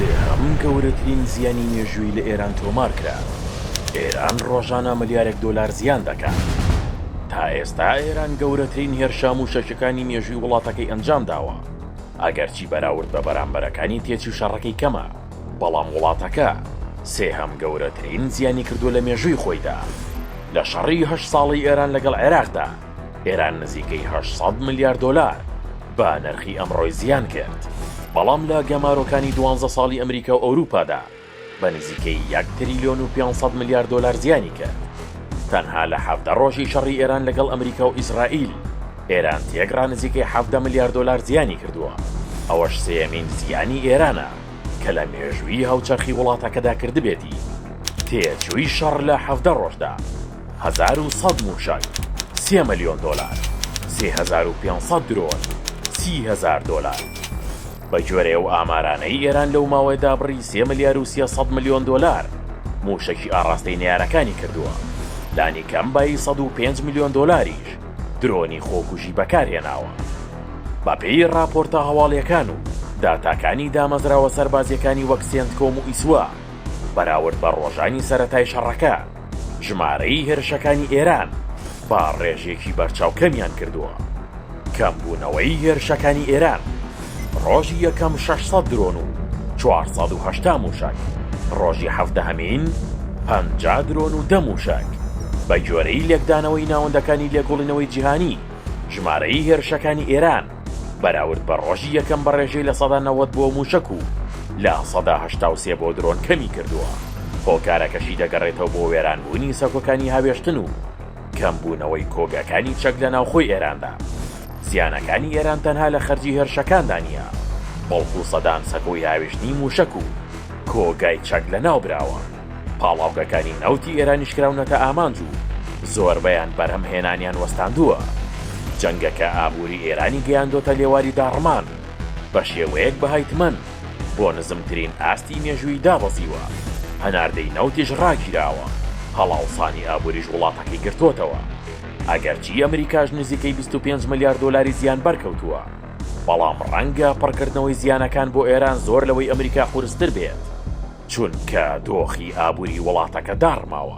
سێهەم گەورەترین زیانی مێژوویی لە ئێران تۆمار کرا. ئێران ڕۆژانە ملیارێک دۆلار زیان دەکات. تا ئێستا ئێران گەورەترین هێرشە مووشەکیەکانی مێژووی وڵاتەکەی ئەنجام داوە. ئەگەرچی بەراورد بە بەرامبەرەکانی تێچووی شەڕەکەی کەمە، بەڵام وڵاتەکە سێهەم گەورەترین زیانی کردووە لە مێژووی خۆیدا. لە شەڕی هەشت ساڵەی ئێران لەگەڵ عێراقدا، ئێران نزیکەی هەشت سەد ملیار دۆلار بە نرخی ئەمڕۆی زیان کرد بەڵام لە گەمارۆکانی دوانزە ساڵی ئەمریکا و ئەوروپادا بە نزیکەی یەک تریلیۆن و 500 ملیار دۆلار زیانی کرد تەنها لە حەفتە ڕۆژی شەڕی ئێران لەگەڵ ئەمریکا و ئیسرائیل ئێران تێکڕا نزیکەی حەفتە ملیار دۆلار زیانی کردووە ئەوەش سێمین زیانی ئێرانە کە لە مێژووی هاوچەرخی وڵاتەکەدا کردبێتی تێچووی شەڕ لە حەفتە ڕۆژدا هەزار و سەد مووشەک، سێ ملیۆن دۆلار، سێ هەزار و پێنج سەد درۆن، سی هەزار دۆلار. بە گوێرەی ئەو ئامارانەی ئێران لەو ماوەیەدا بڕی سێ ملیار و سێ سەد ملیۆن دۆلار مووشەکی ئاڕاستەی نەیارەکانی کردووە، لانیکەم بایی سەد و پێنج ملیۆن دۆلاریش درۆنی خۆکوژی بەکار هێناوە. بە پێی ڕاپۆرتە هەواڵییەکان و داتاکانی دامەزراوە سەربازییەکانی وەک سێنتکۆم و ئیسوا، بەراورد بە ڕۆژانی سەرەتای شەڕەکە، ژمارەی هێرشەکانی ئێران بە ڕێژەیەکی بەرچاو کەمیان کردووە. کەمبوونەوەی هێرشەکانی ئێران، ڕۆژی یەکەم 600 درۆن و 480 مووشەک، ڕۆژی حەڤدەهەمین 50 درۆن و دە مووشەک. بەگوێرەی لێکدانەوەی ناوەندەکانی لێکۆڵینەوەی جیهانی، ژمارەی هێرشەکانی ئێران، بەراورد بە ڕۆژی یەکەم بە ڕێژەی لە سەدا نەوەد بۆ مووشەک و لە سەدا هەشتا و سێ بۆ درۆن کەمی کردووە، هۆکارەکەشی دەگەڕێتەوە بۆ وێرانبوونی سەکۆکانی هاوێشتن و کەمبوونەوەی کۆگاکانی چەک لە ناوخۆی ئێراندا. زیانەکانی ئێران تەنها لە خەرجی هێرشەکاندا نییە، بەڵکو سەدان سەکۆی هاوێشتنی مووشەک و کۆگای چەک لەناوبراوە. پاڵاوگەکانی نەوتی ئێرانیش کراونەتە ئامانج و زۆربەیان بەرهەمهێنانیان وەستاندووە. جەنگەکە ئابووری ئێرانی گەیاندۆتە لێواری داڕمان، بە شێوەیەک بەهای تمەن بۆ نزمترین ئاستی مێژووی دابەزیوە، هەناردەی نەوتیش ڕاگیراوە، هەڵاوسانی ئابووریش وڵاتەکەی گرتۆتەوە. ئەگەرچی ئەمریکاش نزیکەی بیست و پێنج ملیار دۆلاری زیان بەرکەوتووە، بەڵام ڕەنگە پڕکردنەوەی زیانەکان بۆ ئێران زۆر لەوەی ئەمریکا قورستر بێت. چونکە دۆخی ئابوری وڵاتەکە داڕماوە.